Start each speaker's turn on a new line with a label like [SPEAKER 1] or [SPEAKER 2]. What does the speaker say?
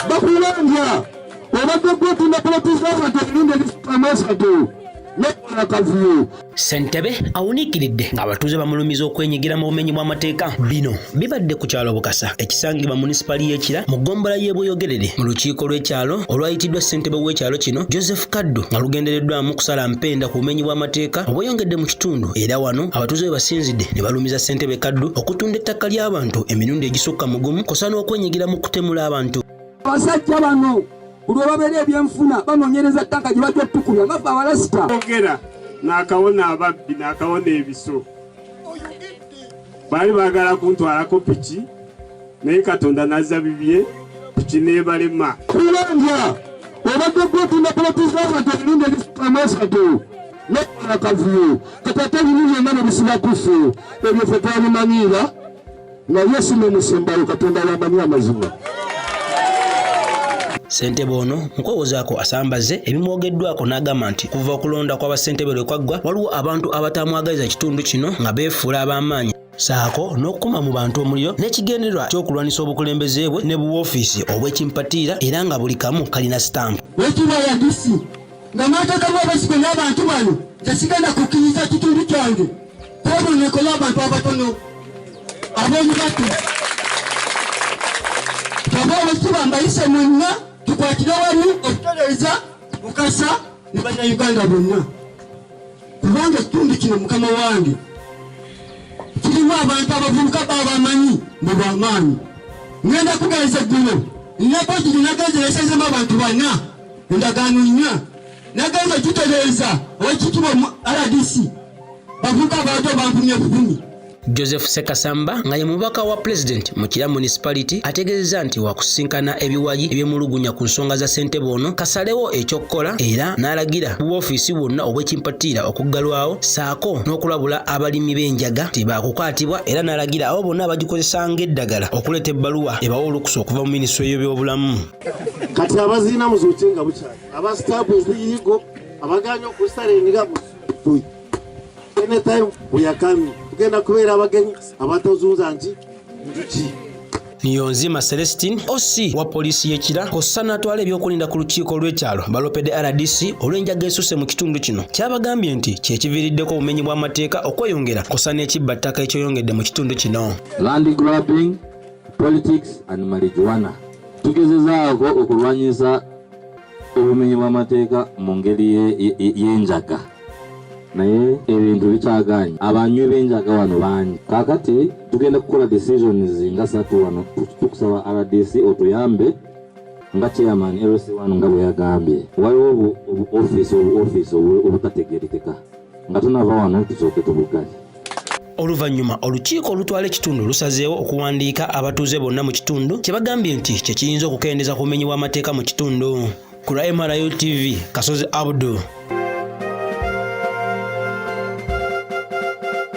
[SPEAKER 1] bakulambya obadde gwetunda polotizabantu ebirunde bisukamaesatu akavuyo
[SPEAKER 2] ssentebe awuniikiridde ng'abatuuze bamulumiza okwenyigira mu bumenyi bw'amateeka bino bibadde ku kyalo bukasa ekisangibwa munisipaali y'ekira mu ggombolola y'ebweyogerere mu lukiiko lw'ekyalo olwayitiddwa ssentebe w'ekyalo kino joseph kaddu nga lugendereddwamu kusala mpenda ku bumenyi bw'amateeka obweyongedde mu kitundu era wano abatuuze bwe basinzidde ne balumiza Ssentebe Kaddu okutunda ettaka ly'abantu emirundi egisukka mu gumu kosa n'okwenyigira mu kutemula abantu. Abasajja bano
[SPEAKER 1] buli webabeera ebyenfuna banoonyereza ttaka gye bajja otukulya nga ffe abalasita. Ogera
[SPEAKER 3] n'akawona ababbi n'akawona ebiso baali baagala kuntwalako piki naye Katonda n'azza bibye piki n'ebalema. Kulembya
[SPEAKER 1] obadde gwotunda poloti z'abantu emirundi egisukka mu esatu. nokola akavuyo kati ate bino byonna nebisiba kuffe ebyo fe twabimanyiira naye si nomusembayo katonda yamanyi amazima
[SPEAKER 2] Ssentebe ono mu kwewozaako asambaze ebimwogeddwako n'agamba nti kuva okulonda kwa bassentebe lwe kwaggwa waliwo abantu abatamwagaliza kitundu kino nga beefuula ab'amaanyi saako n'okukuma mu bantu omuliro n'ekigendererwa ky'okulwanyisa obukulembeze bwe ne buwoofiisi obw'ekimpatiira era nga buli kamu kalina sitampu
[SPEAKER 1] nga mwatekamu abesigwa n'abantu bano tesigenda kukkiriza kitundu kyange kwebonekolo abantu abatono ab'omubatu kaba olwekitiba mbayise mwenna tukwatire wamu okutereeza mukasa ne bannayuganda bonna kubanga ekitundu kino mukama wange kirimu abantu abavubuka baabamanyi mu bwamaanyi ngenda kugaeza gguno nnakoki gye nagenzeresezemu abantu banna endagaano nnya nagamba tutereeza owekitibwa mu rdc bavuka abantu bankumye bukumi joseph
[SPEAKER 2] sekasamba nga ye mubaka wa pulezidenti mu kira municipality ategeezeza nti wakusisinkana ebiwayi ebyemulugunya ku nsonga za ssentebe ono kasalewo ekyokukola era n'alagira bubwofiisi bwonna obwekimpatiira okuggalwawo saako n'okulabula abalimi b'enjaga nti baakukwatibwa era n'alagira abo bonna abagikozesa ng'eddagala okuleeta ebbaluwa ebawa olukusa okuva mu minisitule y'ebyobulamu kati
[SPEAKER 4] abazina muzuuke nga bukyali aba sitaabu eziyigo abaganya okusalenga mutuyi anytime buyakami tugenda kubeera abagenyi abatazunza nti njuki Niyonzima
[SPEAKER 2] Celestine OC wa poliisi y'e Kira kw'ossa n'atwala ebyokulinda ku lukiiko lw'ekyalo baloopedde RDC olw'enjaga esusse mu kitundu kino kyabagambye nti kye kiviiriddeko obumenyi bw'amateeka okweyongera kw'ossa n'ekibba ttaka ekyoyongedde mu kitundu kino.
[SPEAKER 5] politics and marijuana tugezezaako okulwanyisa obumenyi bw'amateeka mu ngeri y'enjaga naye ebintu bikyaganye abanywi b'enjaga wano bangi kakati tugenda kukola decisions nga satu wano tukusaba rdc otuyambe nga chairman lc wano nga bwe yagambye waliwo obuofisi obuofisi obutategerekeka nga tunava wano tusooke tubugazi Oluvannyuma
[SPEAKER 2] olukiiko olutwala ekitundu lusazeewo okuwandiika abatuuze bonna mu kitundu kye bagambye nti kye kiyinza okukendeeza ku bumenyi bw'amateeka mu kitundu. Ku lwa MRU TV, Kasozi Abdu.